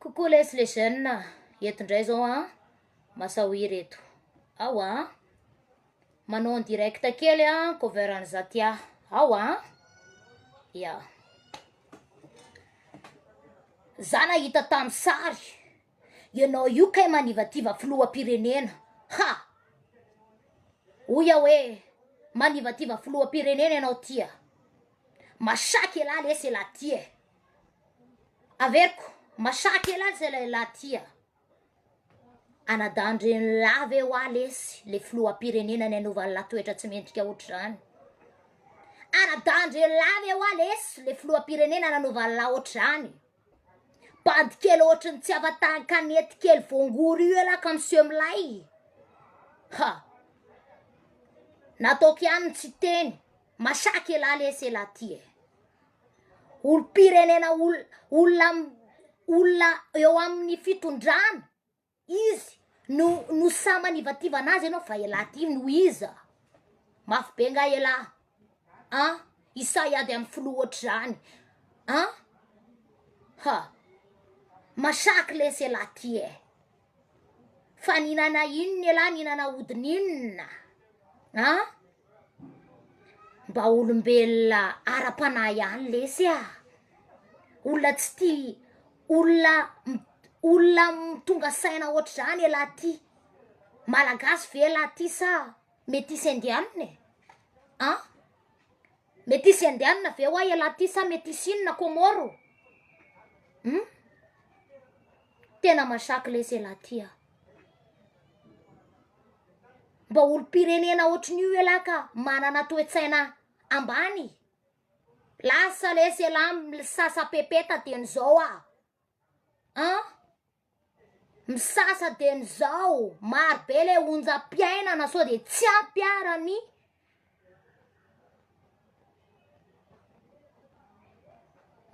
Coucou les les jeunes a, eto indray zao an, Masahoira eto, ao an, manao en direct kely an cover an'i Zatia, ao an, ya, za nahita tamin'ny sary ianao io kay manivativa filoham-pirenena, ha, hoy aho hoe manivativa filoham-pirenena ianao ty a. Masaky elah lesy elah ty e! Averiko, masaky elah lesy elah ty a! Anadahin-dRenilahy ve hoa lesy le filoham-pirenena nianova ny latoetra tsy mendrika hoatr'izany? Anadahin-dRenilahy ve hoa lesy le filoham-pirenena nanova ny lahy hoatr'izany? Bandy kely hoatry ny tsy afa-tahan-kanety kely voangory io elah ka miseho milay! Ha! Nataoko ihany ny tsy hiteny. Masaky elah lesy elah ty e! Olom-pirenena ol- olona am- olona eo amin'ny fitondrana izy no no sahy manivativana azy ianao fa elah ty no iza? Mafy be nga elah an! I sahy ady amin'ny filoha ohatr'izany an! Ha! Masaky lesy elah ty e! fa nihinana inona elah nihinana hodiny inona a! mba olombelona ara-panahy ihany lesy a! olona tsy tia olona olona tonga saina ohatran'izany elah ty malagasy ve elah ty sa metisy indiana e! a! Metisy indiana ve hoa ialahy ty sa metisy inona Comore um? Tena masaky lesy ialahy ty a! Mba olom-pirenena ohatrin'io ialahy ka manana toe-tsaina ambany e! Lasa lesy ialahy misasa pepeta dieny zao a! An? Misasa dieny izao maro be le onjam-piainana sao dia tsy ampy ara ny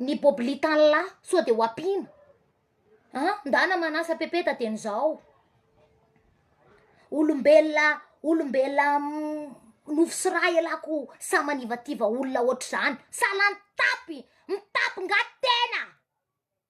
ny boblitala sao dia ho ampiana an! Ndana manasa pepeta dieny izao olombelona olombelona nofo sy ra ialahy o sa manivativa olona ohatr'izany sa lany tapy mitapy nga tena.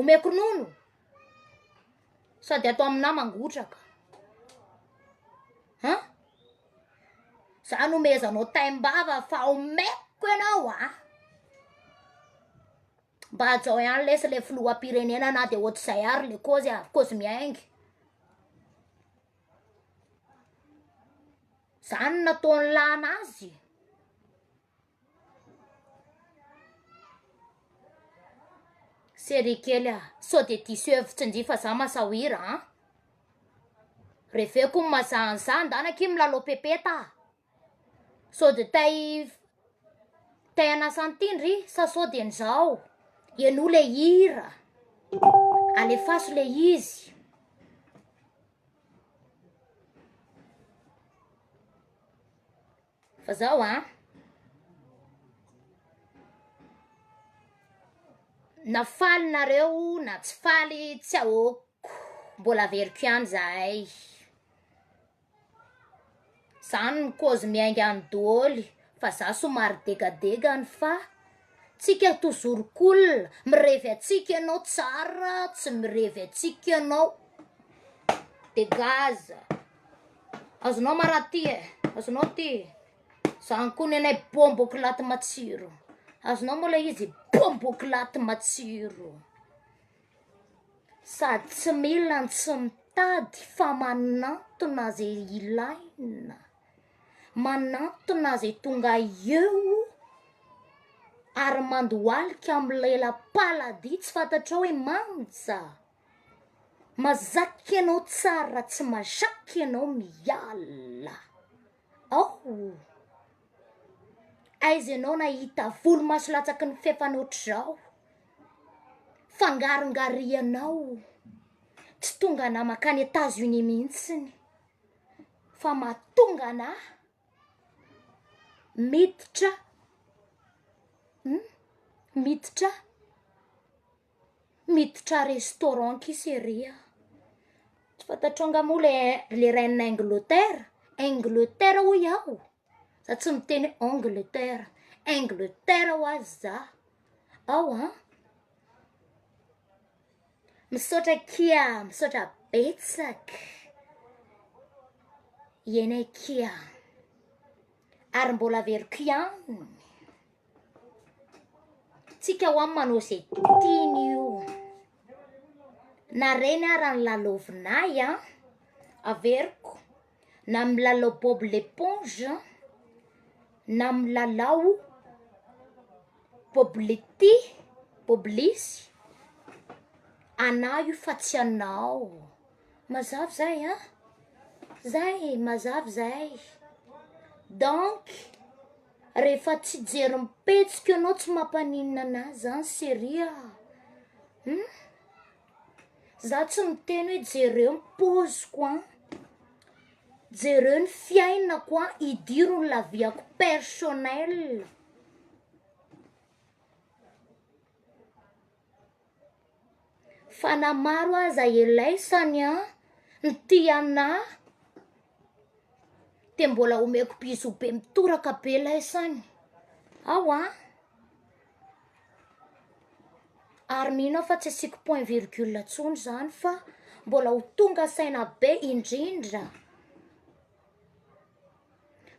Omeko ronono sady atao aminà mangotraka. An! Za nomezanao taim-bava fa omeko ianao a! Mba hajao ihany lesy ilay filoham-pirenena na dia ohatr'izay ary ilay kozy a, kozy miainga. Zany no nataony lany azy. Série kely ah, sao dia diso hevitra ndry fa za masahwira an! Reveko ny mazaha an'izany ndana akia milalao pepeta ah! Sao dia te hi- te hanasa an'ity ndry sa sao dia nizao? Henoy ilay hira, alefaso ilay izy. Fa zao a. Na faly nareo na tsy faly tsy ahoako mbola averiko ihany zahay. Zany ny cause miainga any doholy fa za somary degadega any fa tsika tozorok'olona mirevy antsika ianao tsara tsy mirevy antsika ianao. Degage. Azonao marary ty e, azonao ty e. Zany koa ny anay bombo clate matsiro. Azonao moa ilay izy bombo clate matsiro. Sady tsy mila ny tsy mitady fa manantona ze ilaina. Manantona ze tonga eo ary mandohalika amin'ny lela-paladia tsy fantatrao hoe manja. Mazakk ianao tsara raha tsy mazakk ianao miala ao aiza ianao nahita volo maso latsaky ny fefana otrzao fangarongarianao tsy tonga anah makany etats unis mihitsiny fa mahatonga anah miditra miditra Miditra restaurant kisa ery a! Tsy fantatrao nga moa le le reine Angleterre Angleterre hoy aho za tsy miteny hoe Angleterre Angleterre ho azy za ao a! Misaotra akia misaotra betsak ianay akia ary mbola averiko ihany. Tsika ho'a manao izay tiany io Na reny ara ny lalaovinay an Averiko Na milalao bob l'éponge Na milalao bob le ty Bob lisy Anah io fa tsy anao Mazava zay an Zay e mazava zay Donc Rehefa tsy hijery ny petsiko ianao tsy mampaninona anah zany cherie a um za tsy miteny hoe jereo ny poziko a jereo ny fiainako a idiro ny laviako personnelle. Fa na maro aza elay sany an ny tia ana de mbola omeko bisous be mitoraka be lay sany ao an ary mino aho fa tsy asiako point virgule tsony zany fa mbola ho tonga saina be indrindra.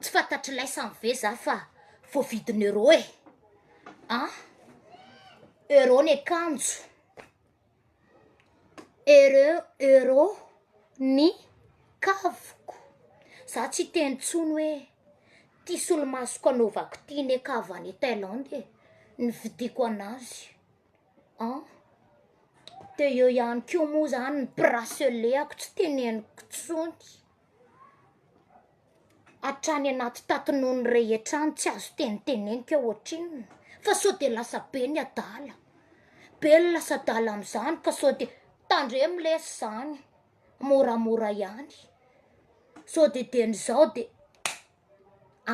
Tsy fantatry laisany ve za fa voavidin'ny euro e! an! Euro ny akanjo, ereo euro ny kaviko, za tsy hiteny intsony hoe ty solomasoko anaovako ty ne ka avy any Thaïlande e! Nividiako an'azy an! De eo ihany ko moa zany ny bracelet-ko tsy teneniko intsony. Hatrany anaty tatin'ony rehetra any tsy azo tenitenenika eo ohatrinona fa sao de lasa be ny adala, be ny lasa adala amin'izany ka sao de tandremo lesy izany moramora ihany sao de dieny izao de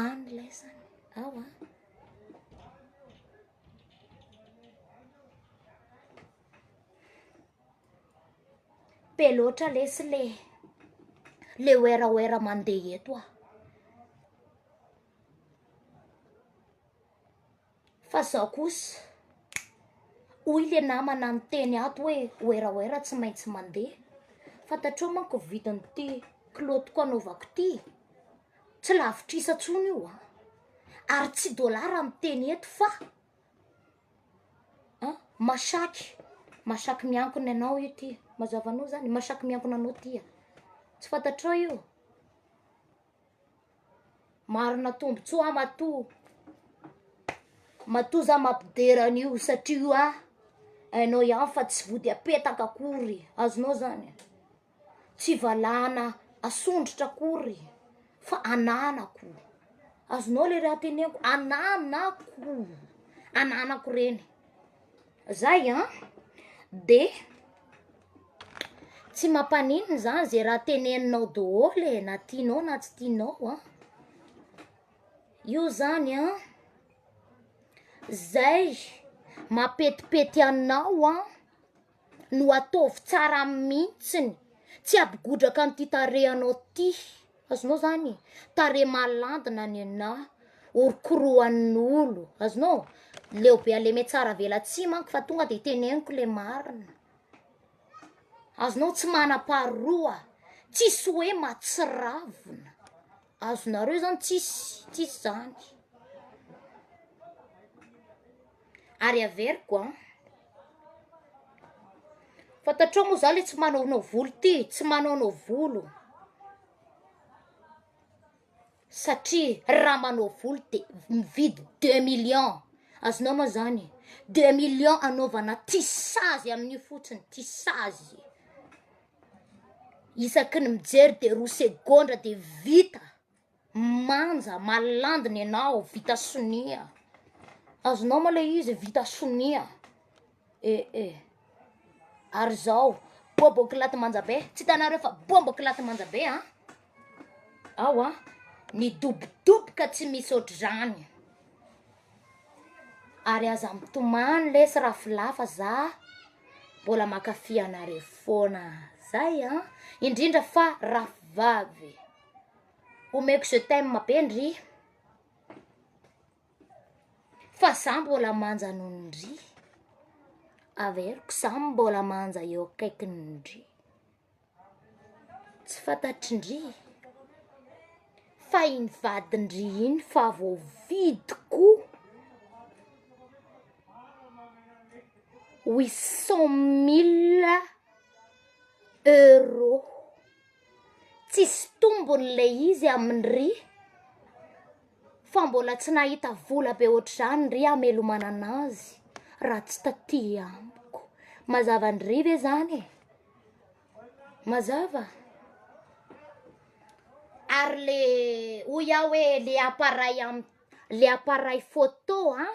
any lesy any ao an. Be loatra lesy le le werawera mandeha eto a! Fa zao kosa hoy le namana niteny ato hoe werawera tsy maintsy mandeha, fantatrao manko ny vidin'ity kilaotiko anaovako ity e! Tsy lavitrisa intsony io a! Ary tsy dolara miteny eto fa. A, Masaky, masaky miankina anao io ty, mazava anao zany, masaky miankina anao ty a, tsy fantatrao io? Marina tombotsoa aho matoa, matoa za mampidera an'io satria io a hainao ihany fa tsy vody apetaka akory, azonao zany? Tsy valahana asondrotra akory fa ananako. Azonao le raha teneniko, ananako, ananako reny. Zay an! De tsy mampaninona zany ze raha teneninao daholo e, na tianao na tsy tianao an! Io zany an, zay mapetipety anao an! no ataovy tsara mihitsiny tsy hapigodraka an'ity tarehinao ty azonao zany e tarehy malandina ny anà orokoroan'olo azonao leo be aleme tsara vela tsy manko fa tonga de teneniko le marina azonao tsy manam-paroa tsisy hoe matsiravina azonareo zany tsisy tsisy zany Ary averiko an. Fantatrao moa za le tsy manaonao volo ty e, tsy manaonao volo satria raha manao volo de mividy deux millions, azonao moa zany deux millions anaovana tisazy amin'io fotsiny tisazy, isaky ny mijery de roa segondra de vita. manja malandina enao vita sonia azonao ma le izy vita sonia eh eh ary zao bobo kilaty manja be tsy hitanareo fa bombo kilaty manja be an ao an midobodoboka tsy misy ohatran'izany ary aza mitomany lesy raflafa za mbola mankafy anareo foana zay an indrindra fa rafivavy. Omeko je t'aime be ndry Fa za mbola manja noho ny ndry Averiko za mbola manja eo akaikiny ndry Tsy fantatry ndry Fa iny vadin-dry iny fa voavidiko Huit cent mille euros tsisy tombony le izy aminy ry fa mbola tsy nahita vola be ohatr'izany ry hamelomanana azy raha tsy taty amiko mazava ndry ve zany e mazava ary le hoy aho hoe le appareil am- le appareil photo an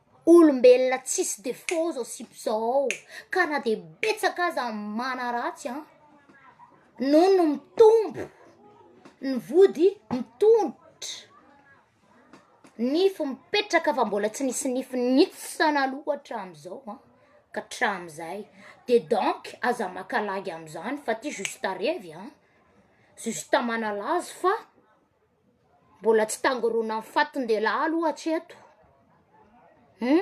Olombelona tsisy defaut zao sipa zao ka na de betsaka aza ny manaratsy an, noho ny mitombo ny vody mitombo nify mipetraka fa mbola tsy nisy nify nihitsana aloha atramizao an ka atramizay de donc aza maka lagy amizany fa ty juste revy an, juste manalazo fa. Mbola tsy tangoronan'ny fatin-dehilahy aloha hatreto hum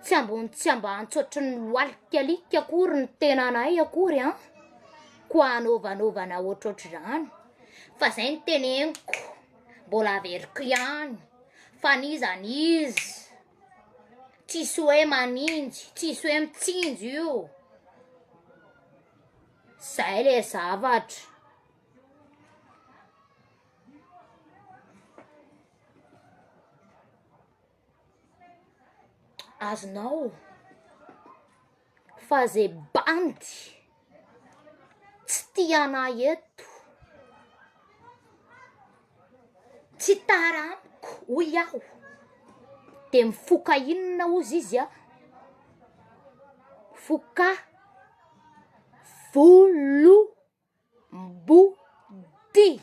tsy ambony tsy ambany tsy ohatry ny loalik'alika akory ny tenanay akory an, koa hanaovanaovana ohatrohatry izany fa izay no teneniko mbola averiko ihany fa n'iza n'iza tsisy hoe maninjy tsisy hoe mitsinjo io, zay le zavatra. Azonao fa ze bandy tsy tia ana eto tsy tara amiko hoy aho de mifoka inona ozy izy an foka volo. Mbo tia!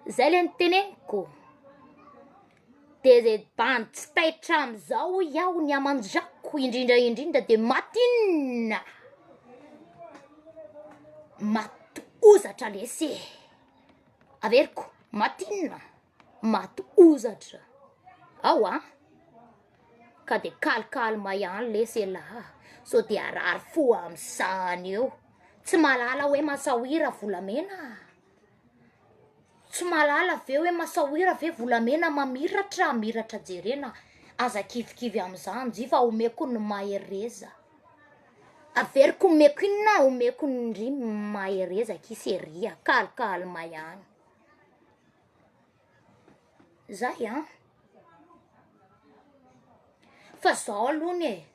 Zay le niteneniko, de ze bandy tsy taitra amin'izao hoy aho ny aman-drako indrindra indrindra de maty inona? Maty hozatra lesy e! Averiko, maty inona? Maty hozatra ao an! Ka dia calme calme ihany lesy elah a! Sao dia harary fo amin'izany eo! Tsy mahalala hoe masaoira volamena a! Tsy mahalala ve hoe masaoira ve volamena mamiratra a! Miratra jerena a! Aza kivikivy amin'izany nji fa omeko ny mahereza! Averiko omeko inona? Omeko ny mahereza kis ery a! Calme calme ihany. Zay an! Fa zaho aloha anie e,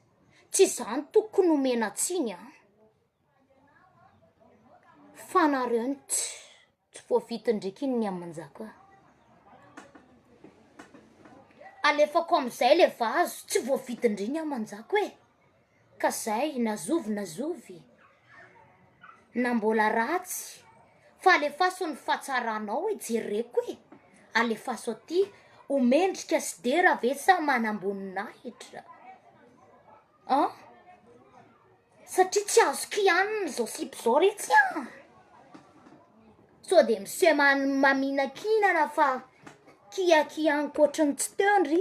tsy zany tokony omena tsiny an! Fa nareo no tsy voavidy ndreky iny ny aman-jaka. Alefako amizay le vazo, tsy voavidy ndry ny aman-jako e. Ka zay na zovy na zovy na mbola ratsy fa alefaso ny fahatsaranao e jereko e alefaso aty ho mendrika sy dera ve sa manamboninahitra an satria tsy azo kihanina zao sipa zao re tsy an sao de miseho maminakinana fa kiakia ankoatry ny tsy teo ndry.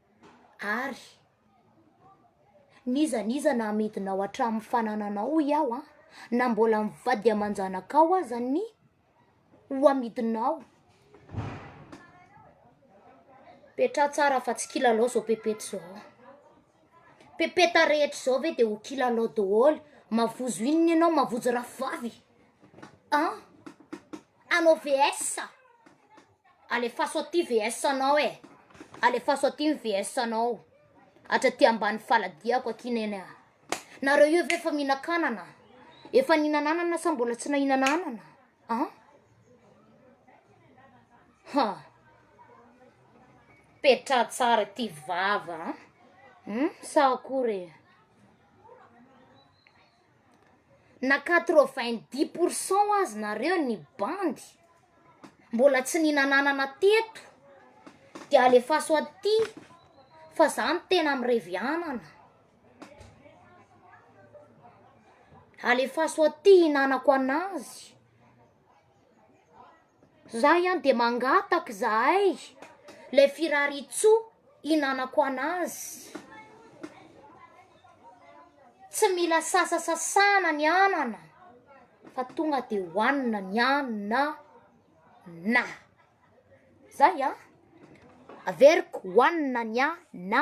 ary n'iza n'iza na amidinao hatramin'ny fanananao hoy aho an, na mbola mivady aman-janakao aza ny ho amidinao, petraho tsara fa tsy kilalao zao pepeta zao an, pepeta rehetra zao ve de ho kilalao daholo, mavozo inona ianao mavozo rahavavy an, hanao vs a. Alefaso aty VS anao e, alefaso aty ny VS anao, atra aty ambany faladiako aty neny a, nareo io ve efa mihinan-kanana? Efa nihinan'anana sa mbola tsy nahinan'anana an? Ha! Petraha tsara ty vava an! Sa akory e? na quatre vingt dix pour cent aza nareo ny bandy mbola tsy ninanana teto de alefaso aty fa za no tena mirevy anana alefaso aty hinanako anazy. Za ihany de mangataka izahay le firariantsoa hinanako anazy. Tsy mila sasasasana ny anana fa tonga de hohanina ny anana na zay a averiko hohanina ny anana.